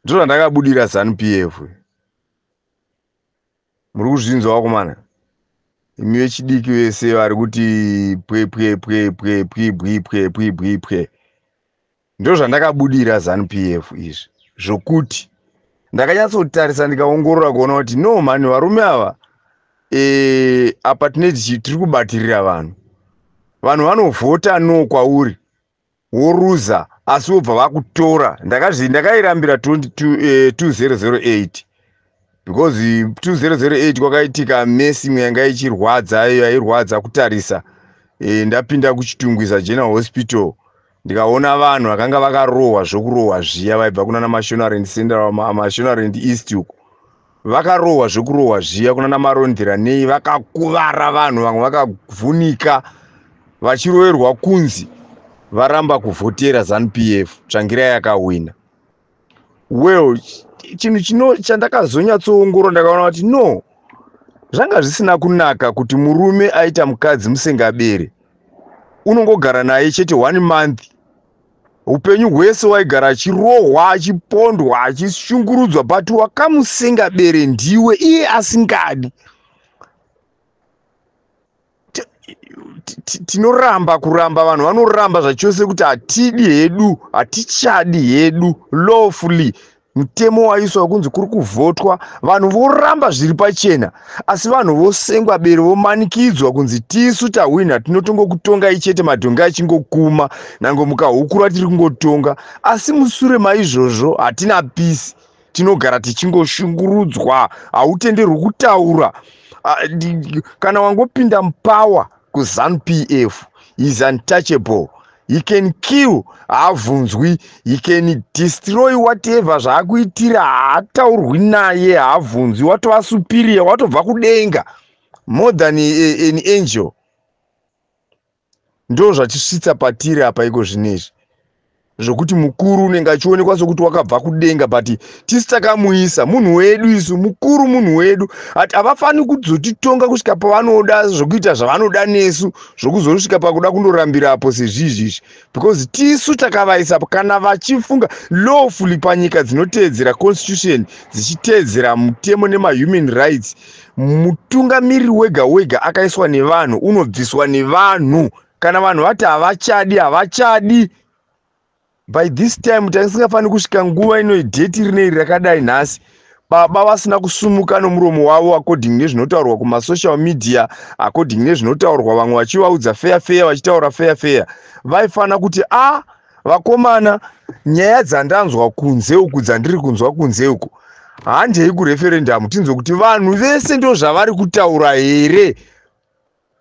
ndiro randakabudira zanupf muri kuzvinzwa vakomana imi vechidiki vese vari kuti pwepwepwepwepwibwipwepwibwipwe ndo zvandakabudira zanupf izvi zvokuti ndakanyatsotarisa ndikaongorora kuona kuti no mani varume ava e, apa tine tiri kubatirira vanhu vanhu vanovhota no kwauri woruza asi wobva vakutora ndakazvi ndakairambira 2008 eh, because 2008 kwakaitika mesi imwe yanga ichirwadza iyo yairwadza kutarisa eh, ndapinda kuchitungwiza general hospital ndikaona vanhu vakanga vakarohwa zvokurohwa zviya vaibva kunana mashonarend central mashonarend east uku vakarohwa zvekurohwa zviya kuna namarondera nei vakakuvara vanhu vamwe vakavhunika vachiroverwa kunzi varamba kuvhotera zanu p f tsvangira yakahwina well chinhu chino chandakazonyatsoongorora ndakaona kuti no zvanga zvisina kunaka kuti murume aita mukadzi musengabere unongogara naye chete one month upenyu hwese waigara achirohwa achipondwa achishungurudzwa but wakamusenga bere ndiwe iye asingadi tinoramba kuramba vanhu vanoramba zvachose kuti hatidi hedu hatichadi hedu lawfully mutemo waiswa wekunzi kuri kuvhotwa vanhu voramba zviri pachena asi vanhu vosengwa bere vomanikidzwa kunzi tisu tahwina tinotongokutongai chete madhongi achingokuma nango mukahukura tiri kungotonga asi musure maizvozvo hatina pisi tinogara tichingoshungurudzwa hautenderwi kutaura ah, kana wangopinda mupawa kuzanu pf is untouchable he can kill haabvunzwi he can destroy whatever zvaakuitira haataurwi naye haabvunzwi watova superior watobva kudenga more than an angel ndo zvatisvitsa patiri apa iko zvino izvi zvekuti mukuru unenge achionekwa sokuti wakabva kudenga but tisi takamuisa munhu wedu isu mukuru munhu wedu at havafaniri kuzotitonga kusvika pavanoda zvekuita zvavanoda nesu zvokuzosvika pakuda kundorambira apo sezvizvi izvi because tisu takavaisa kana vachifunga lawfully panyika dzinoteedzera constitution dzichiteedzera mutemo nemahuman rights mutungamiriri wega wega akaiswa nevanhu unobviswa nevanhu kana vanhu vati havachadi havachadi by this time taisingafaniri kusvika nguva ino idheti rine iri rakadai nhasi baba vasina kusumuka nomuromo wavo according nezvinotaurwa kumasocial media according nezvinotaurwa vamwe vachivaudza feya feya vachitaura feya feya vaifanira kuti a ah, vakomana nyaya dzandanzwa kunze uku dzandiri kunzwa kunze uku handei kureferendamu tinzwe kuti vanhu vese ndo zvavari kutaura here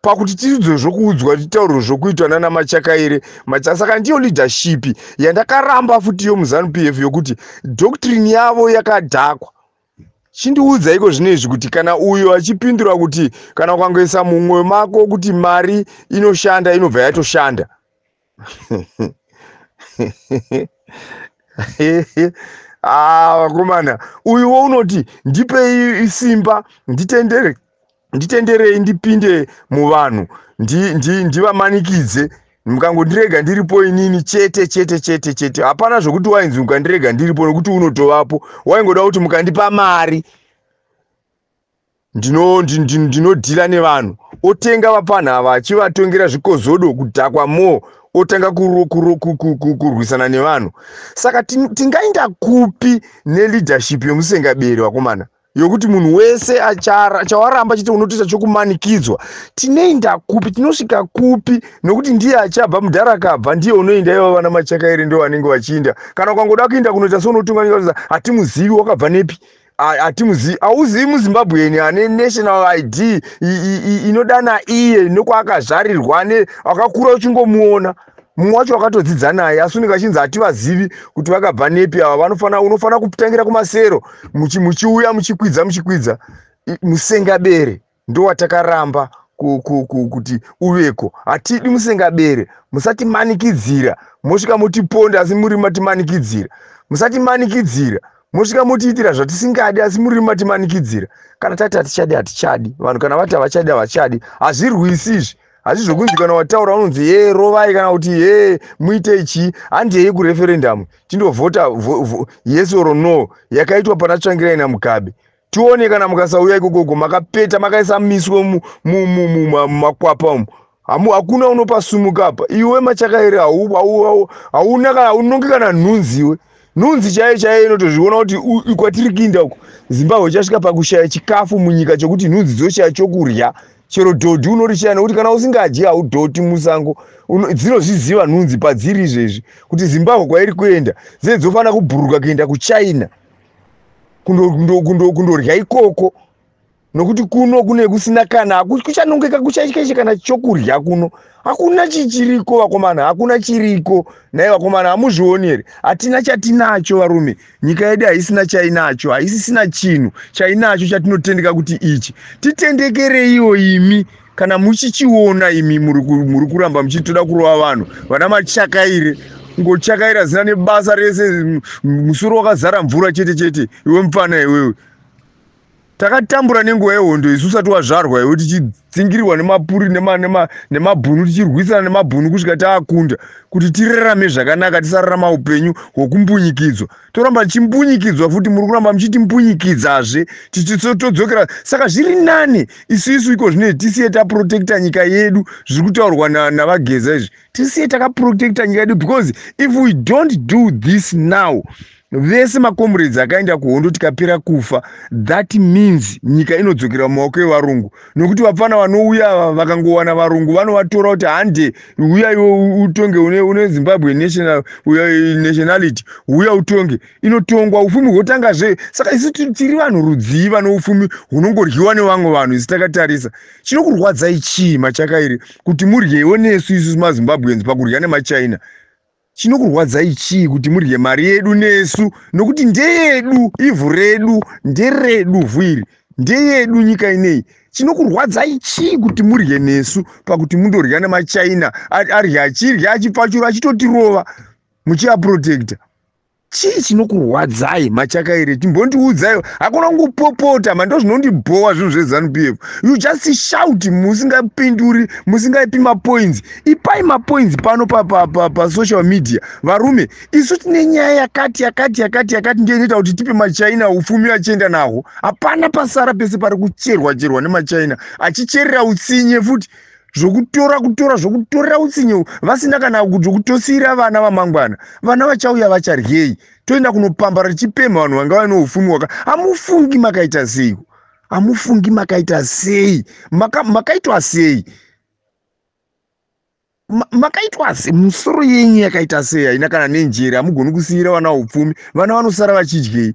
pakuti tisidzwe zvokuudzwa titaurwe zvokuitwa nana machakaire macha saka ndiyo leadership yandakaramba futi yo muzanu p f yokuti doctrine yavo yakadhakwa chindiudza iko zvino izvi kuti kana uyo achipindura kuti kana ukangoisa mumwoyo mako kuti mari inoshanda inobva yatoshanda ah vakomana uyuwo unoti ndipei isimba nditendere nditenderei ndipinde muvanhu ndi- ndi- ndivamanikidze ndi, mukangondirega ndiripo inini chete chete chete chete hapana zvokuti wainzi mukandirega ndiripo nokuti unotovapo waingoda kuti mukandipa mari ndino ndi- ndi- ndinodhira nevanhu otenga vapfanha ava achivatongera zvikozodo kudhakwa more otanga kuro- kuro- ku- ku- ku- kurwisana nevanhu saka tin- tingainda kupi neleadership yemusengaberi vakomana yokuti munhu wese achara- chawaramba chete unotoita chokumanikidzwa tinoinda kupi tinosvika kupi nokuti ndiye achabva mudhara akabva ndiye unoinda ivo vana machakaere ndo vanenge vachiinda kana ukangoda kuinda kunoita seunotunga nyika hatimuzivi wakabva nepi hatimuzivi hauzivi muzimbabwean ane national id inodana iye nekwaakazvarirwa ne akakura uchingomuona mumwe wacho wakatodzidza naye asi unenge achinzi hativazivi kuti vakabva nepi ava vanofanira unofanira kutangira kumasero muchiuya muchikwidza muchikwidza musengabere ndowatakaramba kuti uveko hatidi musengabere musatimanikidzira mosvika motiponda asi muri matimanikidzira musatimanikidzira mosvika motiitira zvatisingadi asi muri matimanikidzira kana tati hatichadi hatichadi vanhu kana vati havachadi havachadi hazvirwisi izvi hazvi zvokunzi kana wataura unonzi hee rovai kana kuti hee muite chii handi yeye kureferendamu tindovhota yes or no yakaitwa pana tsvangirai namugabe tione kana mukasauya ikokoko makapeta makaisa miswe mumakwapa umu hamu hakuna unopasumuka apa iwe machakairi hauna kana unonge kana nhunzi iwe nhunzi chaiyo chaiyo inotozviona kuti kwatiri kuinda uko zimbabwe chasvika pakushaya chikafu munyika chokuti nhunzi dzoshaya chokurya chero dhodhi unorichaya nokuti kana usingadyi haudhoti musango dzinozviziva nhunzi padziri izvezvi kuti zimbabwe kwairi kuenda dzee dzofanira kubhuruka kuenda kuchina kundorya ikoko nokuti kuno kune kusina kana kuchanongeka kuchaishe kana chokurya kuno hakuna chichiriko vakomana hakuna chiriko nai vakomana hamuzvioni here hatina chatinacho varume nyika yedu haisina chainacho haisisina chinhu chainacho chatinotendeka kuti ichi titendekereiwo imi kana muchichiona imi muri kuramba muchitoda kurova vanhu vana machakaire ngochakaira zina nebasa rese musoro wakazara mvura chete chete iwe mupfana iwewe takatambura nenguva yehondo isu usati wazvarwa iwe tichidzingirirwa nemapuri nemabhunu tichirwisana nemabhunu kusvika taakunda kuti tirarame zvakanaka tisararama upenyu hwokumbunyikidzwa toramba tichimbunyikidzwa futi muri kuramba muchitimpunyikidzazve tichitodzokera saka zviri nani isu isu iko zvine tisiye taprotecta nyika yedu zviri kutaurwa navageza izvi tisiye takaprotecta nyika yedu because if we don't do this now vese macomrades akaenda kuhondo tikapera kufa that means nyika inodzokera mumaoko evarungu nokuti vapfana vanouya ava vakangowana varungu vanovatora kuti hande uya iwe utonge une, une zimbabwe national, nationality uya utonge inotongwa ufumi hwotanga zve saka isu tiri vanhu rudzii vane ufumi hunongoryiwa nevamwe vanhu isu takatarisa chinokurwadzai chii machakairi kuti muryewo nesu isu mazimbabweans pakurya nemachina chinokurwadzai chii kuti mudye mari yedu nesu nokuti ndeyedu ivhu redu nderedu vhu iri ndeyedu nyika inei chinokurwadzai chii kuti mudye nesu pakuti mundorya nemachina arye achirya achipfachura achitotirova muchiaprotecta chii chinokurwadzai machakaire chimbondiudzai hakuna kungopopota mando zvinondibhowa zvinhu zvezanup f you just shout musingapinduri musingaipi mapoints ipai mapoints pano pasocial media varume isu tine nyaya yakati yakati yakati yakati ndiyo inoita kuti tipe machina upfumi achienda nahwo hapana pasara pese pari kucherwa cherwa nemachina achicherera utsinye futi zvokutora kutora zvokutorera utsinye vasina kana zvokutosiira vana vamangwana vana vachauya vacharyei toenda kunopambara tichipemha vanhu vanga vaine ufumi waka hamufungi makaita sei hamufungi makaita sei makaitwa sei makaitwa sei musoro yenyu yakaita sei haina kana nenjere hamugoni kusiira vana upfumi vana vanosara vachidyei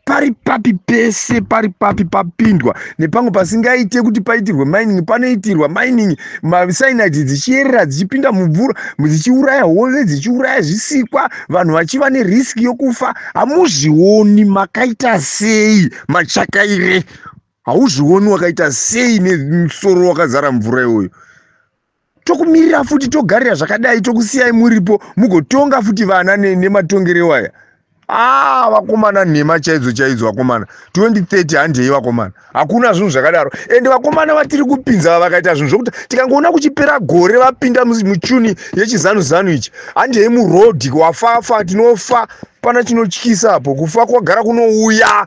pari papi pese pari papi papindwa nepamwe pasingaite kuti paitirwe mining panoitirwa mining masainati dzichiyerera dzichipinda mumvura dzichiuraya hove dzichiuraya zvisikwa vanhu vachiva neriski yokufa hamuzvioni makaita sei machakaire hauzvioni wakaita sei nemusoro wakazara mvura iyoyo tokumirira futi togarira zvakadai tokusiyai muripo mugotonga futi vana nematongerewo aya aa ah, vakomana nhema chaidzo chaidzo vakomana 2030 handei vakomana hakuna zvinhu zvakadaro ende vakomana vatiri kupinza va vakaita zvinhu zvokuti tikangoona kuchipera gore vapinda muchuni yechizanu zanu ichi handei muroad wafafa tinofa pana chinotyisa apo kufa kwagara kunouya